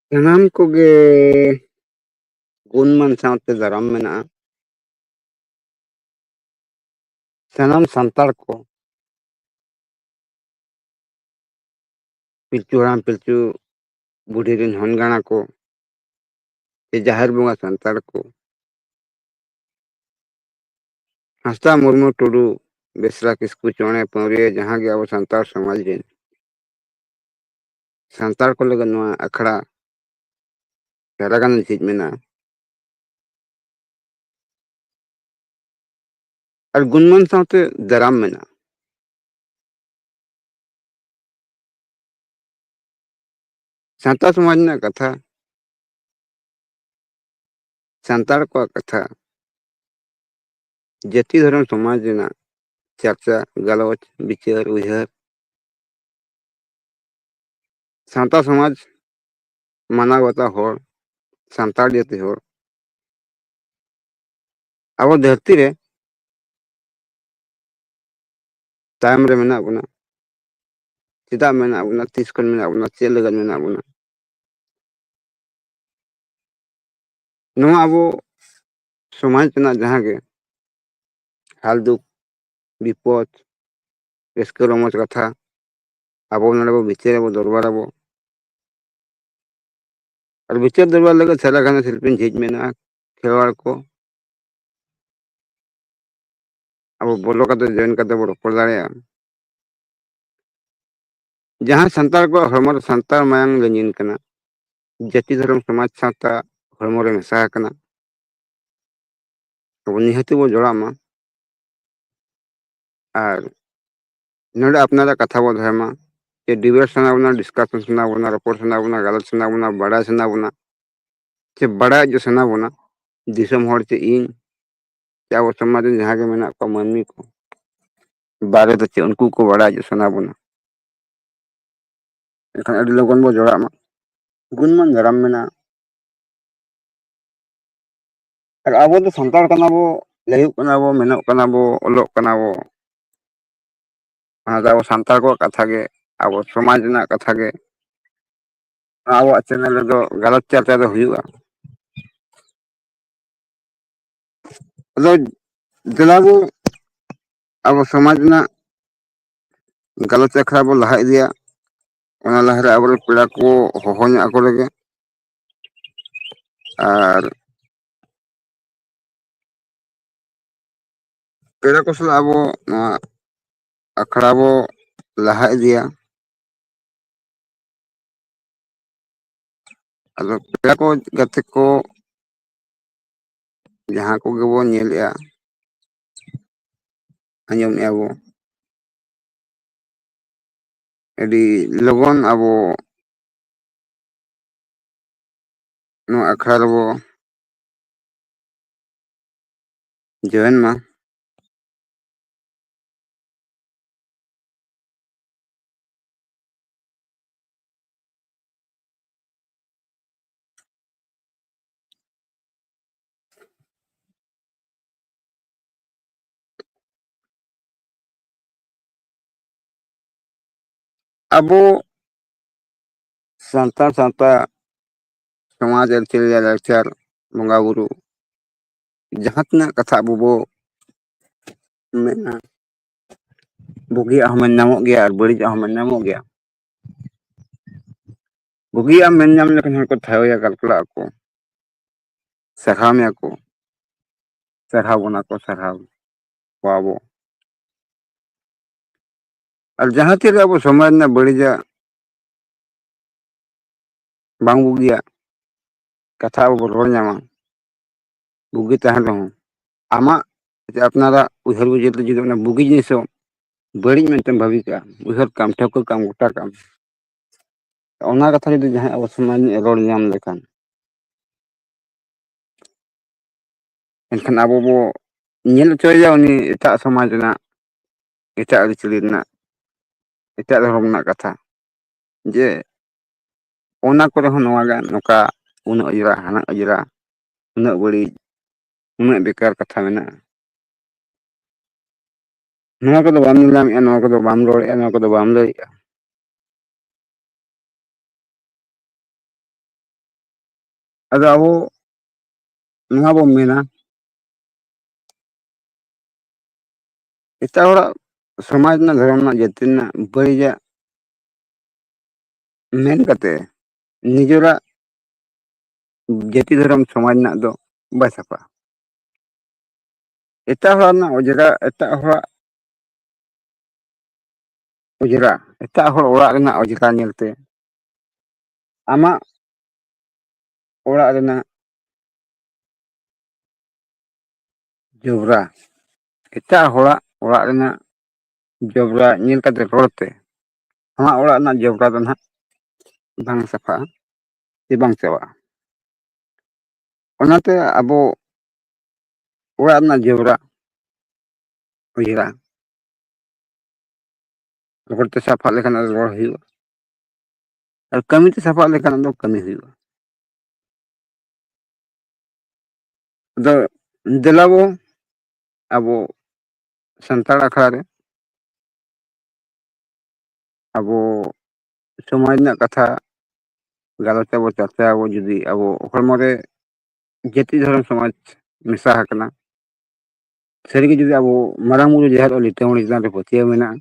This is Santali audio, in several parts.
ᱥᱟᱱᱟᱢ ᱠᱚᱜᱮ ᱜᱩᱱᱢᱟᱱ ᱥᱟᱶᱛᱮ ᱫᱟᱨᱟᱢ ᱢᱮᱱᱟᱜᱼᱟ ᱥᱟᱱᱟᱢ ᱥᱟᱱᱛᱟᱲ ᱠᱚ ᱯᱤᱞᱪᱩ ᱦᱟᱲᱟᱢ ᱯᱤᱞᱪᱩ ᱵᱩᱰᱷᱤ ᱨᱮᱱ ᱦᱚᱱ ᱜᱟᱬᱟ ᱠᱚ ᱥᱮ ᱡᱟᱦᱮᱨ ᱵᱚᱸᱜᱟ ᱥᱟᱱᱛᱟᱲ ᱠᱚ ᱦᱟᱸᱥᱫᱟ ᱢᱩᱨᱢᱩ ᱴᱩᱰᱩ ᱵᱮᱥᱨᱟ ᱠᱤᱥᱠᱩ ᱪᱚᱬᱮ ᱯᱟᱹᱣᱨᱤᱭᱟᱹ ᱡᱟᱦᱟᱸ ᱜᱮ ᱟᱵᱚ ᱥᱟᱱᱛᱟᱲ ᱥᱚᱢᱟᱡᱽ ᱨᱮᱱ ᱥᱟᱱᱛᱟᱲ ᱠᱚ ᱞᱟᱹᱜᱤᱫ ᱱᱚᱣᱟ ᱟᱠᱷᱲᱟ ᱥᱟᱨᱟ ᱜᱟᱱ ᱡᱷᱤᱡ ᱢᱮᱱᱟᱜᱼᱟ ᱟᱨ ᱜᱩᱱᱢᱟᱱ ᱥᱟᱶᱛᱮ ᱫᱟᱨᱟᱢ ᱢᱮᱱᱟᱜᱼᱟ ᱥᱟᱱᱛᱟᱲ ᱥᱚᱢᱟᱡᱽ ᱨᱮᱱᱟᱜ ᱠᱟᱛᱷᱟ ᱥᱟᱱᱛᱟᱲ ᱠᱚᱣᱟᱜ ᱠᱟᱛᱷᱟ ᱡᱟᱹᱛᱤ ᱫᱷᱚᱨᱚᱢ ᱥᱚᱢᱟᱡᱽ ᱨᱮᱱᱟᱜ ᱪᱟᱨᱪᱟ ᱜᱟᱞᱚᱪ ᱵᱤᱪᱟᱹᱨ ᱩᱭᱦᱟᱹᱨ ᱥᱟᱶᱛᱟ ᱥᱚᱢᱟᱡᱽ ᱢᱟᱱᱟᱣ ᱵᱟᱛᱟᱣ ᱦᱚᱲ ᱥᱟᱱᱛᱟᱲ ᱡᱟᱹᱛᱤ ᱦᱚᱲ ᱟᱵᱚ ᱫᱷᱟᱹᱨᱛᱤ ᱨᱮ ᱛᱟᱭᱚᱢ ᱨᱮ ᱢᱮᱱᱟᱜ ᱵᱚᱱᱟ ᱪᱮᱫᱟᱜ ᱢᱮᱱᱟᱜ ᱵᱚᱱᱟ ᱛᱤᱥ ᱠᱷᱚᱱ ᱢᱮᱱᱟᱜ ᱵᱚᱱᱟ ᱪᱮᱫ ᱞᱟᱹᱜᱤᱫ ᱢᱮᱱᱟᱜ ᱵᱚᱱᱟ ᱱᱚᱣᱟ ᱟᱵᱚ ᱥᱚᱢᱟᱡᱽ ᱨᱮᱱᱟᱜ ᱡᱟᱦᱟᱸ ᱜᱮ ᱦᱟᱞ ᱫᱩᱠ ᱵᱤᱯᱚᱫ ᱨᱟᱹᱥᱠᱟᱹ ᱨᱚᱢᱚᱡᱽ ᱠᱟᱛᱷᱟ ᱟᱵᱚ ᱱᱚᱰᱮ ᱵᱚ ᱵᱤᱪᱟᱹᱨ ᱟᱵᱚ ᱫᱚᱨᱵᱟᱨ ᱟᱵᱚ ᱟᱨ ᱵᱤᱪᱟᱹᱨ ᱫᱚᱨᱵᱟᱨ ᱞᱟᱹᱜᱤᱫ ᱥᱟᱨᱟ ᱜᱷᱟᱱᱮ ᱥᱤᱞᱯᱤᱧ ᱡᱷᱤᱡ ᱢᱮᱱᱟᱜᱼᱟ ᱠᱷᱮᱨᱣᱟᱲ ᱠᱚ ᱟᱵᱚ ᱵᱚᱞᱚ ᱠᱟᱛᱮ ᱡᱚᱭᱮᱱ ᱠᱟᱛᱮ ᱵᱚ ᱨᱚᱯᱚᱲ ᱫᱟᱲᱮᱭᱟᱜᱼᱟ ᱡᱟᱦᱟᱸ ᱥᱟᱱᱛᱟᱲ ᱠᱚᱣᱟᱜ ᱦᱚᱲᱢᱚ ᱨᱮ ᱥᱟᱱᱛᱟᱲ ᱢᱟᱭᱟᱝ ᱞᱤᱸᱡᱤᱱ ᱠᱟᱱᱟ ᱡᱟᱹᱛᱤ ᱫᱷᱚᱨᱚᱢ ᱥᱚᱢᱟᱡᱽ ᱥᱟᱶᱛᱟ ᱦᱚᱲᱢᱚ ᱨᱮ ᱢᱮᱥᱟ ᱟᱠᱟᱱᱟ ᱟᱵᱚ ᱱᱤᱦᱟᱹᱛᱤ ᱵᱚᱱ ᱡᱚᱲᱟᱜ ᱢᱟ ᱟᱨ ᱱᱚᱰᱮ ᱟᱯᱱᱟᱨᱟᱜ ᱠᱟᱛᱷᱟ ᱵᱚᱱ ᱫᱚᱦᱚᱭ ᱢᱟ ᱡᱮ ᱰᱤᱵᱮᱴ ᱥᱟᱱᱟ ᱵᱚᱱᱟ ᱰᱤᱥᱠᱟᱥᱚᱱ ᱥᱟᱱᱟ ᱵᱚᱱᱟ ᱨᱚᱯᱚᱲ ᱥᱟᱱᱟ ᱵᱚᱱᱟ ᱜᱟᱞᱚᱪ ᱥᱟᱱᱟ ᱵᱚᱱᱟ ᱵᱟᱲᱟᱭ ᱥᱟᱱᱟ ᱵᱚᱱᱟ ᱥᱮ ᱵᱟᱲᱟᱭ ᱦᱚᱪᱚ ᱥᱟᱱᱟ ᱵᱚᱱᱟ ᱫᱤᱥᱚᱢ ᱦᱚᱲ ᱪᱮ ᱤᱧ ᱥᱮ ᱟᱵᱚ ᱥᱚᱢᱟᱡᱽ ᱨᱮᱱ ᱡᱟᱦᱟᱸᱭ ᱜᱮ ᱢᱮᱱᱟᱜ ᱠᱚᱣᱟ ᱢᱟᱹᱱᱢᱤ ᱠᱚ ᱵᱟᱨᱮ ᱫᱚ ᱪᱮᱫ ᱩᱱᱠᱩ ᱠᱚ ᱵᱟᱲᱟᱭ ᱦᱚᱪᱚ ᱥᱟᱱᱟ ᱵᱚᱱᱟ ᱮᱱᱠᱷᱟᱱ ᱟᱹᱰᱤ ᱞᱚᱜᱚᱱ ᱵᱚᱱ ᱡᱚᱲᱟᱜ ᱢᱟ ᱜᱩᱱᱢᱟᱱ ᱫᱷᱟᱨᱟᱢ ᱢᱮᱱᱟᱜᱼᱟ ᱟᱨ ᱟᱵᱚ ᱫᱚ ᱥᱟᱱᱛᱟᱲ ᱠᱟᱱᱟ ᱵᱚ ᱞᱟᱹᱭᱟᱹᱜ ᱠᱟᱱᱟ ᱵᱚ ᱢᱮᱱᱚᱜ ᱠᱟᱱᱟ ᱵᱚ ᱚᱞᱚᱜ ᱠᱟᱱᱟ ᱵᱚ ᱚᱱᱟ ᱫᱚ ᱟᱵᱚ ᱥᱟᱱᱛᱟᱲ ᱠᱚᱣᱟᱜ ᱠᱟᱛᱷᱟ ᱜᱮ ᱟᱵᱚ ᱥᱚᱢᱟᱡᱽ ᱨᱮᱱᱟᱜ ᱠᱟᱛᱷᱟ ᱜᱮ ᱟᱵᱚᱣᱟᱜ ᱪᱮᱱᱮᱞ ᱨᱮᱫᱚ ᱜᱟᱞᱚᱪ ᱪᱟᱨᱪᱟ ᱫᱚ ᱦᱩᱭᱩᱜᱼᱟ ᱟᱫᱚ ᱫᱮᱞᱟ ᱵᱚ ᱟᱵᱚ ᱥᱚᱢᱟᱡᱽ ᱨᱮᱱᱟᱜ ᱜᱟᱞᱚᱪ ᱟᱠᱷᱲᱟ ᱵᱚᱱ ᱞᱟᱦᱟ ᱤᱫᱤᱭᱟ ᱚᱱᱟ ᱞᱟᱦᱟᱨᱮ ᱟᱵᱚᱨᱮᱱ ᱯᱮᱲᱟ ᱠᱚ ᱦᱚᱦᱚ ᱧᱚᱜ ᱟᱠᱚ ᱞᱮᱜᱮ ᱟᱨ ᱯᱮᱲᱟ ᱠᱚ ᱥᱟᱞᱟᱜ ᱟᱵᱚ ᱱᱚᱣᱟ ᱟᱠᱷᱲᱟ ᱵᱚ ᱞᱟᱦᱟ ᱤᱫᱤᱭᱟ ᱟᱫᱚ ᱯᱮᱲᱟ ᱠᱚ ᱜᱟᱛᱮ ᱠᱚ ᱡᱟᱦᱟᱸ ᱠᱚᱜᱮ ᱵᱚᱱ ᱧᱮᱞᱮᱜᱼᱟ ᱟᱸᱡᱚᱢᱮᱫᱼᱟ ᱵᱚ ᱟᱹᱰᱤ ᱞᱚᱜᱚᱱ ᱟᱵᱚ ᱱᱚᱣᱟ ᱟᱠᱷᱲᱟ ᱨᱮᱵᱚ ᱡᱚᱭᱮᱱ ᱢᱟ ᱟᱵᱚ ᱥᱟᱱᱛᱟᱲ ᱥᱟᱶᱛᱟ ᱥᱚᱢᱟᱡᱽ ᱟᱹᱨᱤᱪᱟᱹᱞᱤ ᱞᱟᱭᱼᱞᱟᱠᱪᱟᱨ ᱵᱚᱸᱜᱟ ᱵᱩᱨᱩ ᱡᱟᱦᱟᱸ ᱛᱤᱱᱟᱹᱜ ᱠᱟᱛᱷᱟ ᱟᱵᱚ ᱵᱚ ᱢᱮᱱᱟ ᱵᱩᱜᱤᱭᱟᱜ ᱦᱚᱸ ᱢᱮᱱ ᱧᱟᱢᱚᱜ ᱜᱮᱭᱟ ᱟᱨ ᱵᱟᱹᱲᱤᱡᱟᱜ ᱦᱚᱸ ᱢᱮᱱ ᱧᱟᱢᱚᱜ ᱜᱮᱭᱟ ᱵᱩᱜᱤᱭᱟᱜ ᱢᱮᱱ ᱧᱟᱢ ᱞᱮᱠᱷᱟᱱ ᱦᱚᱲ ᱠᱚ ᱴᱷᱟᱭᱚᱭᱟ ᱜᱟᱞᱯᱚᱞᱟᱜ ᱟᱠᱚ ᱥᱟᱨᱦᱟᱣ ᱢᱮᱭᱟ ᱠᱚ ᱥᱟᱨᱦᱟᱣ ᱵᱚᱱᱟ ᱠᱚ ᱥᱟᱨᱦᱟᱣ ᱠᱚᱣᱟ ᱵᱚ ᱟᱨ ᱡᱟᱦᱟᱸ ᱛᱤᱨᱮ ᱟᱵᱚ ᱥᱚᱢᱟᱡᱽ ᱨᱮᱱᱟᱜ ᱵᱟᱹᱲᱤᱡᱟᱜ ᱵᱟᱝ ᱵᱩᱜᱤᱭᱟᱜ ᱠᱟᱛᱷᱟ ᱟᱵᱚ ᱵᱚᱱ ᱨᱚᱲ ᱧᱟᱢᱟ ᱵᱩᱜᱤ ᱛᱟᱦᱮᱱ ᱨᱮᱦᱚᱸ ᱟᱢᱟᱜ ᱡᱮ ᱟᱯᱱᱟᱨᱟᱜ ᱩᱭᱦᱟᱹᱨ ᱵᱩᱡᱟᱹᱨ ᱛᱮ ᱡᱩᱫᱤ ᱚᱱᱟ ᱵᱩᱜᱤ ᱡᱤᱱᱤᱥ ᱦᱚᱸ ᱵᱟᱹᱲᱤᱡ ᱢᱮᱱᱛᱮᱢ ᱵᱷᱟᱹᱵᱤ ᱠᱟᱜᱼᱟ ᱩᱭᱦᱟᱹᱨ ᱠᱟᱜ ᱟᱢ ᱴᱷᱟᱹᱣᱠᱟᱹ ᱠᱟᱜ ᱟᱢ ᱜᱚᱴᱟ ᱠᱟᱜ ᱟᱢ ᱚᱱᱟ ᱠᱟᱛᱷᱟ ᱡᱩᱫᱤ ᱡᱟᱦᱟᱸᱭ ᱟᱵᱚ ᱥᱚᱢᱟᱡᱽ ᱨᱤᱱᱤᱡ ᱮ ᱨᱚᱲ ᱧᱟᱢ ᱞᱮᱠᱷᱟᱱ ᱮᱱᱠᱷᱟᱱ ᱟᱵᱚ ᱵᱚ ᱧᱮᱞ ᱦᱚᱪᱚᱭᱮᱭᱟ ᱩᱱᱤ ᱮᱴᱟᱜ ᱥᱚᱢᱟᱡᱽ ᱨᱮᱱᱟᱜ ᱮᱴᱟᱜ ᱟᱹᱨᱤᱪᱟᱹᱞᱤ ᱨᱮᱱᱟᱜ ᱮᱴᱟᱜ ᱫᱷᱚᱨᱚᱢ ᱨᱮᱱᱟᱜ ᱠᱟᱛᱷᱟ ᱡᱮ ᱚᱱᱟ ᱠᱚᱨᱮ ᱦᱚᱸ ᱱᱚᱣᱟ ᱜᱮ ᱱᱚᱝᱠᱟ ᱩᱱᱟᱹᱜ ᱚᱸᱡᱽᱨᱟ ᱦᱟᱱᱟ ᱚᱸᱡᱽᱨᱟ ᱩᱱᱟᱹᱜ ᱵᱟᱹᱲᱤᱡ ᱩᱱᱟᱹᱜ ᱵᱮᱠᱟᱨ ᱠᱟᱛᱷᱟ ᱢᱮᱱᱟᱜᱼᱟ ᱱᱚᱣᱟ ᱠᱚᱫᱚ ᱵᱟᱢ ᱧᱮᱞ ᱧᱟᱢᱮᱫᱼᱟ ᱱᱚᱣᱟ ᱠᱚᱫᱚ ᱵᱟᱢ ᱨᱚᱲᱮᱫᱼᱟ ᱱᱚᱣᱟ ᱠᱚᱫᱚ ᱵᱟᱢ ᱞᱟᱹᱭᱮᱫᱼᱟ ᱟᱫᱚ ᱟᱵᱚ ᱱᱚᱣᱟ ᱵᱚᱱ ᱢᱮᱱᱟ ᱮᱴᱟᱜ ᱦᱚᱲᱟᱜ ᱥᱚᱢᱟᱡᱽ ᱨᱮᱱᱟᱜ ᱫᱷᱚᱨᱚᱢ ᱨᱮᱱᱟᱜ ᱡᱟᱹᱛᱤ ᱨᱮᱱᱟᱜ ᱵᱟᱹᱲᱤᱡᱟᱜ ᱢᱮᱱ ᱠᱟᱛᱮ ᱱᱤᱡᱮᱨᱟᱜ ᱡᱟᱹᱛᱤ ᱫᱷᱚᱨᱚᱢ ᱥᱚᱢᱟᱡᱽ ᱨᱮᱱᱟᱜ ᱫᱚ ᱵᱟᱭ ᱥᱟᱯᱷᱟᱜᱼᱟ ᱮᱴᱟᱜ ᱦᱚᱲᱟᱜ ᱨᱮᱱᱟᱜ ᱚᱸᱡᱽᱨᱟ ᱮᱴᱟᱜ ᱦᱚᱲᱟᱜ ᱚᱸᱡᱽᱨᱟ ᱮᱴᱟᱜ ᱦᱚᱲ ᱚᱲᱟᱜ ᱨᱮᱱᱟᱜ ᱚᱸᱡᱽᱨᱟ ᱧᱮᱞᱛᱮ ᱟᱢᱟᱜ ᱚᱲᱟᱜ ᱨᱮᱱᱟᱜ ᱡᱚᱵᱽᱨᱟ ᱮᱴᱟᱜ ᱦᱚᱲᱟᱜ ᱚᱲᱟᱜ ᱨᱮᱱᱟᱜ ᱡᱚᱵᱽᱨᱟ ᱧᱮᱞ ᱠᱟᱛᱮ ᱨᱚᱲ ᱛᱮ ᱟᱢᱟᱜ ᱚᱲᱟᱜ ᱨᱮᱱᱟᱜ ᱡᱚᱵᱽᱨᱟ ᱫᱚ ᱱᱟᱦᱟᱜ ᱵᱟᱝ ᱥᱟᱯᱷᱟᱜᱼᱟ ᱥᱮ ᱵᱟᱝ ᱪᱟᱵᱟᱜᱼᱟ ᱚᱱᱟᱛᱮ ᱟᱵᱚ ᱚᱲᱟᱜ ᱨᱮᱱᱟᱜ ᱡᱚᱵᱽᱨᱟ ᱚᱸᱡᱽᱨᱟ ᱨᱚᱦᱚᱲ ᱛᱮ ᱥᱟᱯᱷᱟ ᱞᱮᱠᱷᱟᱱ ᱟᱨ ᱨᱚᱦᱚᱲ ᱦᱩᱭᱩᱜᱼᱟ ᱟᱨ ᱠᱟᱹᱢᱤ ᱛᱮ ᱥᱟᱯᱟᱵ ᱞᱮᱠᱟᱱᱟᱜ ᱫᱚ ᱠᱟᱹᱢᱤ ᱦᱩᱭᱩᱜᱼᱟ ᱟᱫᱚ ᱫᱮᱞᱟᱵᱚ ᱟᱵᱚ ᱥᱟᱱᱛᱟᱲ ᱟᱠᱷᱲᱟ ᱨᱮ ᱟᱵᱚ ᱥᱚᱢᱟᱡᱽ ᱨᱮᱱᱟᱜ ᱠᱟᱛᱷᱟ ᱜᱟᱞᱚᱪ ᱟᱵᱚ ᱪᱟᱨᱪᱟᱭᱟ ᱟᱵᱚ ᱡᱩᱫᱤ ᱟᱵᱚ ᱦᱚᱲᱢᱚ ᱨᱮ ᱡᱟᱹᱛᱤ ᱫᱷᱚᱨᱚᱢ ᱥᱚᱢᱟᱡᱽ ᱢᱮᱥᱟ ᱟᱠᱟᱱᱟ ᱥᱟᱹᱨᱤᱜᱮ ᱡᱩᱫᱤ ᱟᱵᱚ ᱢᱟᱨᱟᱝ ᱵᱩᱨᱩ ᱡᱟᱦᱮᱨ ᱟᱭᱳ ᱞᱤᱴᱟᱹ ᱜᱚᱸᱰᱮᱛ ᱪᱮᱛᱟᱱ ᱨᱮ ᱯᱟᱹᱛᱭᱟᱹᱣ ᱢᱮᱱᱟᱜᱼᱟ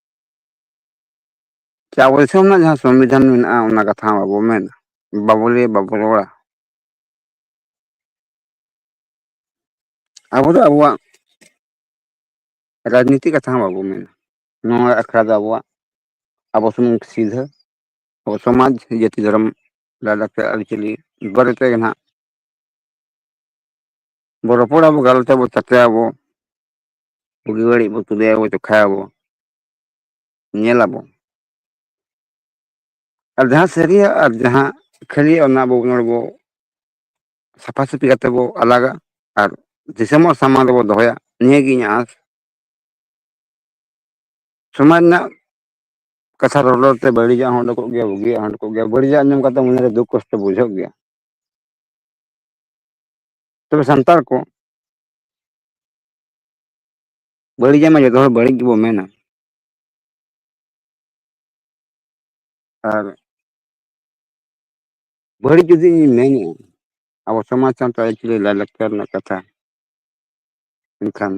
ᱪᱮ ᱟᱵᱚ ᱫᱤᱥᱚᱢ ᱨᱮᱱᱟᱜ ᱡᱟᱦᱟᱸ ᱥᱚᱝᱵᱤᱫᱷᱟᱱ ᱢᱮᱱᱟᱜᱼᱟ ᱚᱱᱟ ᱠᱟᱛᱷᱟ ᱦᱚᱸ ᱵᱟᱵᱚ ᱢᱮᱱᱟ ᱵᱟᱵᱚ ᱞᱟᱹᱭᱟ ᱵᱟᱵᱚ ᱨᱚᱲᱟ ᱟᱵᱚ ᱫᱚ ᱟᱵᱚᱣᱟᱜ ᱨᱟᱡᱽᱱᱤᱛᱤ ᱠᱟᱛᱷᱟ ᱦᱚᱸ ᱵᱟᱵᱚ ᱢᱮᱱᱟ ᱱᱚᱣᱟ ᱟᱠᱷᱲᱟ ᱫᱚ ᱟᱵᱚᱣᱟᱜ ᱟᱵᱚ ᱥᱩᱢᱩᱝ ᱥᱤᱫᱷᱟᱹ ᱟᱵᱚ ᱥᱚᱢᱟᱡᱽ ᱡᱟᱹᱛᱤ ᱫᱷᱚᱨᱚᱢ ᱞᱟᱭᱼᱞᱟᱠᱪᱟᱨ ᱟᱹᱨᱤᱪᱟᱹᱞᱤ ᱵᱟᱨᱮ ᱛᱮᱜᱮ ᱱᱟᱦᱟᱜ ᱵᱚ ᱨᱚᱯᱚᱲᱟ ᱵᱚ ᱜᱟᱞᱚᱪ ᱟᱵᱚ ᱪᱟᱨᱪᱟᱭᱟᱵᱚ ᱵᱩᱜᱤ ᱵᱟᱹᱲᱤᱡ ᱵᱚ ᱛᱩᱞᱟᱹᱭᱟᱵᱚ ᱡᱚᱠᱷᱟᱭᱟᱵᱚ ᱧᱮᱞᱟᱵᱚ ᱟᱨ ᱡᱟᱦᱟᱸ ᱥᱟᱹᱨᱤᱭᱟᱜ ᱟᱨ ᱡᱟᱦᱟᱸ ᱠᱷᱟᱹᱞᱤᱭᱟᱜ ᱚᱱᱟ ᱟᱵᱚ ᱱᱚᱰᱮ ᱵᱚ ᱥᱟᱯᱷᱟ ᱥᱟᱹᱯᱷᱤ ᱠᱟᱛᱮ ᱵᱚ ᱟᱞᱟᱜᱟ ᱟᱨ ᱫᱤᱥᱚᱢ ᱦᱚᱲ ᱥᱟᱢᱟᱝ ᱨᱮᱵᱚ ᱫᱚᱦᱚᱭᱟ ᱱᱤᱭᱟᱹᱜᱮ ᱤᱧᱟᱹᱜ ᱟᱸᱥ ᱥᱚᱢᱟᱡᱽ ᱨᱮᱱᱟᱜ ᱠᱟᱛᱷᱟ ᱨᱚᱲ ᱨᱚᱲ ᱛᱮ ᱵᱟᱹᱲᱤᱡᱟᱜ ᱦᱚᱸ ᱩᱰᱩᱠᱚᱜ ᱜᱮᱭᱟ ᱵᱩᱜᱤᱭᱟᱜ ᱦᱚᱸ ᱩᱰᱩᱠᱚᱜ ᱜᱮᱭᱟ ᱵᱟᱹᱲᱤᱡᱟᱜ ᱟᱸᱡᱚᱢ ᱠᱟᱛᱮ ᱢᱚᱱᱮᱨᱮ ᱫᱩᱠ ᱠᱚᱥᱴᱚ ᱵᱩᱡᱷᱟᱹᱜ ᱜᱮᱭᱟ ᱛᱚᱵᱮ ᱥᱟᱱᱛᱟᱲ ᱠᱚ ᱵᱟᱹᱲᱤᱡᱟᱜ ᱢᱟ ᱡᱚᱛᱚ ᱦᱚᱲ ᱵᱟᱹᱲᱤᱡ ᱜᱮᱵᱚ ᱢᱮᱱᱟ ᱟᱨ ᱵᱟᱹᱲᱤᱡ ᱡᱩᱫᱤ ᱤᱧ ᱢᱮᱱᱮᱜᱼᱟ ᱟᱵᱚ ᱥᱚᱢᱟᱡᱽ ᱥᱟᱱᱛ ᱟᱹᱨᱤᱪᱟᱹᱞᱤ ᱞᱟᱭᱼᱞᱟᱠᱪᱟᱨ ᱨᱮᱱᱟᱜ ᱠᱟᱛᱷᱟ ᱮᱱᱠᱷᱟᱱ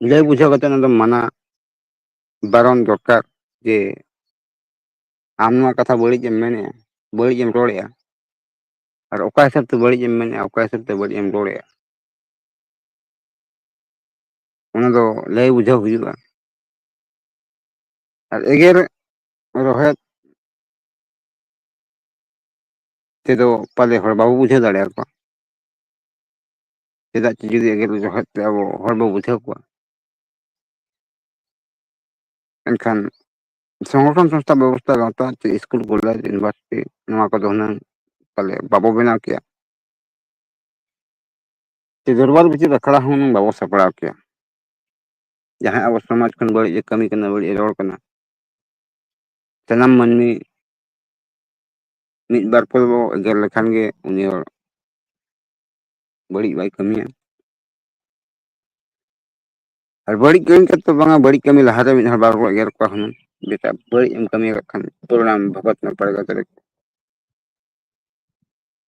ᱞᱟᱹᱭ ᱵᱩᱡᱷᱟᱹᱣ ᱠᱟᱛᱮ ᱚᱱᱟ ᱫᱚ ᱢᱟᱱᱟ ᱵᱟᱨᱚᱱ ᱫᱚᱨᱠᱟᱨ ᱡᱮ ᱟᱢ ᱱᱚᱣᱟ ᱠᱟᱛᱷᱟ ᱵᱟᱹᱲᱤᱡ ᱮᱢ ᱢᱮᱱᱮᱜᱼᱟ ᱵᱟᱹᱲᱤᱡ ᱮᱢ ᱨᱚᱲᱮᱜᱼᱟ ᱟᱨ ᱚᱠᱟ ᱦᱤᱥᱟᱹᱵᱽ ᱛᱮ ᱵᱟᱹᱲᱤᱡ ᱮᱢ ᱢᱮᱱᱮᱜᱼᱟ ᱚᱠᱟ ᱦᱤᱥᱟᱹᱵᱽ ᱛᱮ ᱵᱟᱹᱲᱤᱡ ᱮᱢ ᱨᱚᱲᱮᱜᱼᱟ ᱚᱱᱟ ᱫᱚ ᱞᱟᱹᱭ ᱵᱩᱡᱷᱟᱹᱣ ᱦᱩᱭᱩᱜᱼᱟ ᱟᱨ ᱮᱜᱮᱨ ᱨᱚᱦᱮᱫ ᱛᱮᱫᱚ ᱯᱟᱞᱮ ᱦᱚᱲ ᱵᱟᱵᱚ ᱵᱩᱡᱷᱟᱹᱣ ᱫᱟᱲᱮᱭᱟ ᱠᱚᱣᱟ ᱪᱮᱫᱟᱜ ᱪᱚ ᱡᱩᱫᱤ ᱮᱜᱮᱨ ᱡᱚᱠᱷᱟᱡ ᱛᱮ ᱟᱵᱚ ᱦᱚᱲ ᱵᱚ ᱵᱩᱡᱷᱟᱹᱣ ᱠᱚᱣᱟ ᱮᱱᱠᱷᱟᱱ ᱥᱚᱝᱜᱚᱴᱷᱚᱱ ᱥᱚᱝᱥᱛᱷᱟ ᱵᱮᱵᱚᱥᱛᱷᱟ ᱜᱟᱶᱛᱟ ᱪᱮ ᱤᱥᱠᱩᱞ ᱠᱚᱞᱮᱡᱽ ᱤᱭᱩᱱᱤᱵᱷᱟᱨᱥᱤᱴᱤ ᱱᱚᱣᱟ ᱠᱚᱫᱚ ᱦᱩᱱᱟᱹᱝ ᱯᱟᱞᱮ ᱵᱟᱵᱚ ᱵᱮᱱᱟᱣ ᱠᱮᱭᱟ ᱫᱚᱨᱵᱟᱨ ᱵᱤᱪᱟᱹᱨ ᱟᱠᱷᱲᱟ ᱦᱚᱸ ᱦᱩᱱᱟᱹᱝ ᱵᱟᱵᱚ ᱥᱟᱯᱲᱟᱣ ᱠᱮᱭᱟ ᱡᱟᱦᱟᱸ ᱟᱵᱚ ᱥᱚᱢᱟᱡᱽ ᱠᱷᱚᱱ ᱵᱟᱹᱲᱤᱡ ᱮ ᱠᱟᱹᱢᱤ ᱠᱟᱱᱟ ᱵᱟᱹᱲᱤᱡ ᱮ ᱨᱚᱲ ᱠᱟᱱᱟ ᱥᱟᱱᱟᱢ ᱢᱟᱹᱱᱢᱤ ᱢᱤᱫ ᱵᱟᱨ ᱠᱚᱫᱚ ᱵᱚ ᱮᱜᱮᱨ ᱞᱮᱠᱷᱟᱱ ᱜᱮ ᱩᱱᱤ ᱦᱚᱲ ᱵᱟᱹᱲᱤᱡ ᱵᱟᱭ ᱠᱟᱹᱢᱤᱭᱟ ᱟᱨ ᱵᱟᱹᱲᱤᱡ ᱠᱟᱹᱢᱤ ᱠᱟᱛᱮᱫ ᱫᱚ ᱵᱟᱝᱟ ᱵᱟᱹᱲᱤᱡ ᱠᱟᱹᱢᱤ ᱞᱟᱦᱟᱨᱮ ᱢᱤᱫ ᱦᱚᱲ ᱵᱟᱨ ᱦᱚᱲ ᱵᱚ ᱮᱜᱮᱨ ᱠᱚᱣᱟ ᱦᱩᱱᱟᱹᱝ ᱵᱮᱴᱟ ᱵᱟᱹᱲᱤᱡ ᱮᱢ ᱠᱟᱹᱢᱤ ᱟᱠᱟᱫ ᱠᱷᱟᱱ ᱯᱚᱨᱤᱱᱟᱢ ᱵᱷᱚᱜᱚᱛ ᱢᱮ ᱯᱟᱞᱮ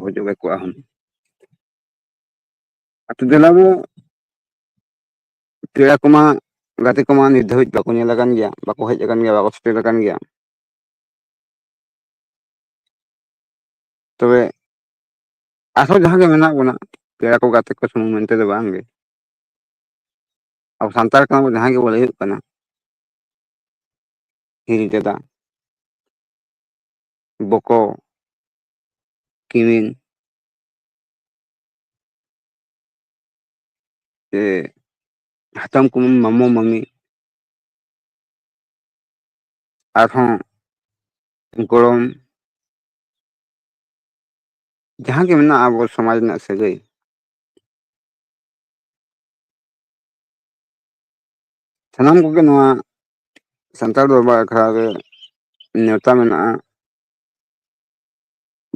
ᱵᱩᱡᱩᱜᱮ ᱠᱚᱣᱟ ᱦᱩᱱᱟᱹᱝ ᱟᱛᱳ ᱫᱮᱞᱟ ᱫᱚ ᱯᱮᱲᱟ ᱠᱚᱢᱟ ᱜᱟᱛᱮ ᱠᱚᱢᱟ ᱱᱤᱛ ᱫᱷᱟᱹᱵᱤᱡ ᱵᱟᱠᱚ ᱧᱮᱞ ᱟᱠᱟᱱ ᱜᱮᱭᱟ ᱵᱟᱠᱚ ᱦᱮᱡ ᱟᱠᱟᱱ ᱜᱮᱭᱟ ᱵᱟᱠᱚ ᱥᱮᱴᱮᱨ ᱟᱠᱟᱱ ᱜᱮᱭᱟ ᱛᱚᱵᱮ ᱟᱨᱦᱚᱸ ᱡᱟᱦᱟᱸ ᱜᱮ ᱢᱮᱱᱟᱜ ᱵᱚᱱᱟ ᱯᱮᱲᱟ ᱠᱚ ᱜᱟᱛᱮ ᱠᱚ ᱥᱩᱢᱩᱝ ᱢᱮᱱᱛᱮ ᱫᱚ ᱵᱟᱝ ᱜᱮ ᱟᱵᱚ ᱥᱟᱱᱛᱟᱲ ᱠᱟᱱᱟ ᱵᱚᱱ ᱡᱟᱦᱟᱸᱭ ᱜᱮᱵᱚᱱ ᱞᱟᱹᱭᱟᱹᱜ ᱠᱟᱱᱟ ᱦᱤᱨᱤ ᱫᱟᱫᱟ ᱵᱚᱠᱚ ᱠᱤᱢᱤᱱ ᱥᱮ ᱦᱟᱛᱚᱢ ᱠᱩᱢᱤᱱ ᱢᱟᱢᱚ ᱢᱟᱹᱢᱤ ᱟᱨᱦᱚᱸ ᱜᱚᱲᱚᱢ ᱡᱟᱦᱟᱸ ᱜᱮ ᱢᱮᱱᱟᱜᱼᱟ ᱟᱵᱚ ᱥᱚᱢᱟᱡᱽ ᱨᱮᱱᱟᱜ ᱥᱟᱹᱜᱟᱹᱭ ᱥᱟᱱᱟᱢ ᱠᱚᱜᱮ ᱱᱚᱣᱟ ᱥᱟᱱᱛᱟᱲ ᱫᱚᱨᱵᱟᱨ ᱟᱠᱷᱲᱟ ᱨᱮ ᱱᱮᱶᱛᱟ ᱢᱮᱱᱟᱜᱼᱟ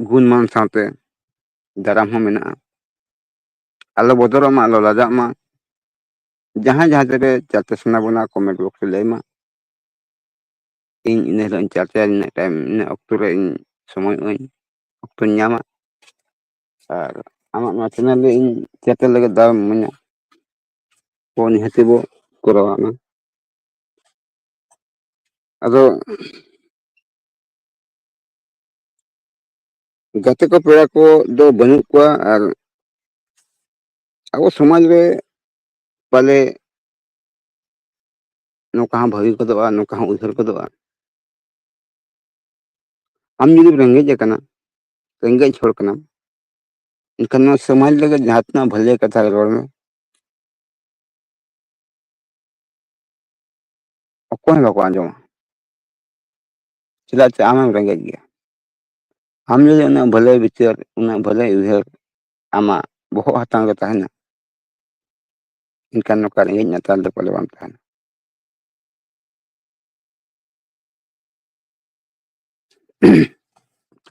ᱜᱩᱱ ᱢᱟᱱ ᱥᱟᱶᱛᱮ ᱫᱟᱨᱟᱢ ᱦᱚᱸ ᱢᱮᱱᱟᱜᱼᱟ ᱟᱞᱚ ᱵᱚᱫᱚᱨᱚᱜ ᱢᱟ ᱟᱞᱚ ᱞᱟᱡᱟᱜ ᱢᱟ ᱡᱟᱦᱟᱸᱭ ᱡᱟᱦᱟᱸ ᱛᱤᱨᱮ ᱪᱟᱛᱮ ᱥᱟᱱᱟ ᱵᱚᱱᱟ ᱠᱚᱢᱮᱱᱴ ᱵᱚᱠᱥ ᱨᱮ ᱞᱟᱹᱭ ᱢᱟ ᱤᱧ ᱤᱱᱟᱹ ᱦᱤᱞᱳᱜ ᱤᱧ ᱪᱟᱨᱪᱟᱭᱟ ᱱᱤᱱᱟᱹᱜ ᱴᱟᱭᱤᱢ ᱱᱤᱱᱟᱹᱜ ᱚᱠᱛᱚ ᱨᱮ ᱤᱧ ᱥᱚᱢᱚᱭᱚᱜ ᱟᱹᱧ ᱚᱠᱛᱚᱧ ᱧᱟᱢᱟ ᱟᱨ ᱟᱢᱟᱜ ᱱᱚᱣᱟ ᱪᱮᱱᱮᱞ ᱨᱮ ᱤᱧ ᱪᱟᱛᱮ ᱞᱟᱹᱜᱤᱫ ᱫᱟᱣᱮᱢ ᱤᱢᱟᱹᱧᱟ ᱠᱚ ᱱᱤᱦᱟᱹᱛᱤ ᱵᱚ ᱠᱚᱨᱟᱣᱟ ᱚᱱᱟ ᱟᱫᱚ ᱜᱟᱛᱮ ᱠᱚ ᱯᱮᱲᱟ ᱠᱚ ᱫᱚ ᱵᱟᱹᱱᱩᱜ ᱠᱚᱣᱟ ᱟᱨ ᱟᱵᱚ ᱥᱚᱢᱟᱡᱽ ᱨᱮ ᱯᱟᱞᱮ ᱱᱚᱝᱠᱟ ᱦᱚᱸ ᱵᱷᱟᱹᱜᱤ ᱜᱚᱫᱚᱜᱼᱟ ᱱᱚᱝᱠᱟ ᱦᱚᱸ ᱩᱭᱦᱟᱹᱨ ᱜᱚᱫᱚᱜᱼᱟ ᱟᱢ ᱡᱩᱫᱤᱢ ᱨᱮᱸᱜᱮᱡ ᱟᱠᱟᱱᱟ ᱨᱮᱸᱜᱮᱡ ᱦᱚᱲ ᱠᱟᱱᱟᱢ ᱮᱱᱠᱷᱟᱱ ᱱᱚᱣᱟ ᱥᱚᱢᱟᱡᱽ ᱞᱟᱹᱜᱤᱫ ᱡᱟᱦᱟᱸ ᱛᱤᱱᱟᱹᱜ ᱵᱷᱟᱹᱞᱟᱹᱭ ᱟᱜ ᱠᱟᱛᱷᱟ ᱨᱚᱲ ᱢᱮ ᱚᱠᱚᱭ ᱦᱚᱸ ᱵᱟᱠᱚ ᱟᱸᱡᱚᱢᱟ ᱪᱮᱫᱟᱜ ᱪᱮ ᱟᱢᱮᱢ ᱨᱮᱸᱜᱮᱡ ᱜᱮᱭᱟ ᱟᱢ ᱡᱩᱫᱤ ᱩᱱᱟᱹᱜ ᱵᱷᱟᱹᱞᱟᱹᱭ ᱵᱤᱪᱟᱹᱨ ᱩᱱᱟᱹᱜ ᱵᱷᱟᱹᱞᱟᱹᱭ ᱩᱭᱦᱟᱹᱨ ᱟᱢᱟᱜ ᱵᱚᱦᱚᱜ ᱦᱟᱛᱟᱝ ᱨᱮ ᱛᱟᱦᱮᱱᱟ ᱮᱱᱠᱷᱟᱱ ᱱᱚᱝᱠᱟ ᱨᱮᱸᱜᱮᱡ ᱱᱟᱪᱟᱨ ᱫᱚ ᱯᱟᱞᱮ ᱵᱟᱢ ᱛᱟᱦᱮᱱᱟ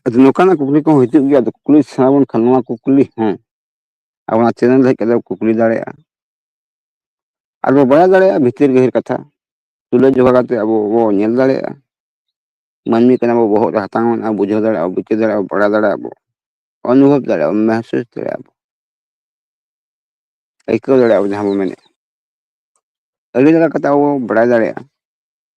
ᱟᱫᱚ ᱱᱚᱝᱠᱟᱱᱟᱜ ᱠᱩᱠᱞᱤ ᱠᱚᱦᱚᱸ ᱦᱤᱡᱩᱜ ᱜᱮᱭᱟ ᱟᱫᱚ ᱠᱩᱠᱞᱤ ᱥᱟᱱᱟ ᱵᱚᱱ ᱠᱷᱟᱱ ᱱᱚᱣᱟ ᱠᱩᱠᱞᱤ ᱦᱚᱸ ᱟᱵᱚ ᱚᱱᱟ ᱪᱮᱱᱮᱞ ᱨᱮ ᱦᱮᱡ ᱠᱟᱛᱮ ᱠᱩᱠᱞᱤ ᱫᱟᱲᱮᱭᱟᱜᱼᱟ ᱟᱨ ᱵᱚ ᱵᱟᱲᱟᱭ ᱫᱟᱲᱮᱭᱟᱜᱼᱟ ᱵᱷᱤᱛᱤᱨ ᱜᱟᱹᱦᱤᱨ ᱠᱟᱛᱷᱟ ᱛᱩᱞᱟᱹ ᱡᱚᱠᱷᱟ ᱠᱟᱛᱮ ᱟᱵᱚ ᱵᱚ ᱧᱮᱞ ᱫᱟᱲᱮᱭᱟᱜᱼᱟ ᱢᱟᱹᱱᱢᱤ ᱠᱟᱱᱟ ᱵᱚ ᱵᱚᱦᱚᱜ ᱨᱮ ᱦᱟᱛᱟᱝ ᱢᱮᱱᱟᱜᱼᱟ ᱵᱩᱡᱷᱟᱹᱣ ᱫᱟᱲᱮᱭᱟᱜ ᱟᱵᱚ ᱵᱤᱪᱟᱹᱨ ᱫᱟᱲᱮᱭᱟᱜ ᱟᱵᱚ ᱵᱟᱲᱟᱭ ᱫᱟᱲᱮᱭᱟᱜ ᱟᱵᱚ ᱚᱱᱩᱵᱷᱚᱵ ᱫᱟᱲᱮᱭᱟᱜ ᱟᱵᱚ ᱢᱮᱦᱥᱩᱥ ᱫᱟᱲᱮᱭᱟᱜ ᱟᱵᱚ ᱟᱹᱭᱠᱟᱹᱣ ᱫᱟᱲᱮᱭᱟᱜ ᱟᱵᱚ ᱡᱟᱦᱟᱸ ᱵᱚ ᱢᱮᱱᱮᱫ ᱟᱹᱰᱤ ᱞᱮᱠᱟ ᱠᱟᱛᱮ ᱟᱵᱚ ᱵᱚ ᱵᱟᱲᱟᱭ ᱫᱟᱲᱮᱭᱟᱜᱼᱟ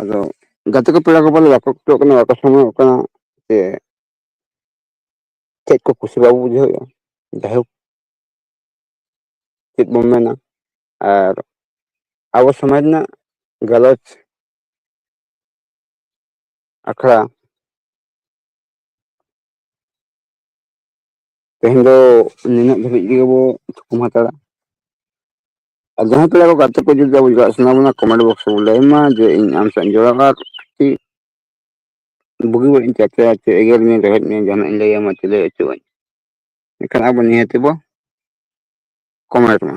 ᱟᱫᱚ ᱜᱟᱛᱮ ᱠᱚ ᱯᱮᱲᱟ ᱠᱚ ᱵᱚᱞᱮ ᱵᱟᱠᱚ ᱪᱷᱩᱴᱟᱹᱜ ᱠᱟᱱᱟ ᱵᱟᱠᱚ ᱥᱚᱢᱚᱭᱚᱜ ᱠᱟᱱᱟ ᱡᱮ ᱪᱮᱫ ᱠᱚ ᱠᱩᱥᱤ ᱵᱟᱵᱚ ᱵᱩᱡᱷᱟᱹᱣᱮᱫᱼᱟ ᱡᱟᱭᱦᱳᱠ ᱪᱮᱫ ᱵᱚᱱ ᱢᱮᱱᱟ ᱟᱨ ᱟᱵᱚ ᱥᱚᱢᱟᱡᱽ ᱨᱮᱱᱟᱜ ᱜᱟᱞᱚᱪ ᱟᱠᱷᱲᱟ ᱛᱮᱦᱮᱧ ᱫᱚ ᱱᱤᱱᱟᱹᱜ ᱫᱷᱟᱹᱵᱤᱡ ᱜᱮᱵᱚ ᱛᱷᱩᱠᱩᱢ ᱦᱟᱛᱟᱲᱟ ᱟᱨ ᱡᱟᱦᱟᱸᱭ ᱯᱮᱲᱟ ᱠᱚ ᱜᱟᱛᱮ ᱠᱚ ᱡᱩᱫᱤ ᱟᱵᱚ ᱡᱚᱣᱟᱜ ᱥᱟᱱᱟ ᱵᱚᱱᱟ ᱠᱚᱢᱮᱱᱴ ᱵᱚᱠᱥ ᱨᱮᱵᱚᱱ ᱞᱟᱹᱭ ᱢᱟ ᱡᱮ ᱤᱧ ᱟᱢ ᱥᱟᱶ ᱤᱧ ᱡᱚᱲᱟᱣᱟ ᱟᱨ ᱪᱮᱫ ᱵᱩᱜᱤ ᱵᱟᱹᱲᱤᱡ ᱤᱧ ᱪᱟᱨᱪᱟᱭᱟ ᱪᱮ ᱮᱜᱮᱨ ᱢᱮᱭᱟᱹᱧ ᱨᱮᱵᱮᱫ ᱢᱮᱭᱟᱹᱧ ᱡᱟᱦᱟᱱᱟᱜ ᱤᱧ ᱞᱟᱹᱭᱟᱢᱟ ᱪᱮ ᱞᱟᱹᱭ ᱦᱚᱪᱚ ᱟᱹᱧ ᱮᱱᱠᱷᱟᱱ ᱟᱵᱚ ᱱᱤᱦᱟᱹᱛ ᱵᱚ ᱠᱚᱢᱮᱱᱴ ᱢᱟ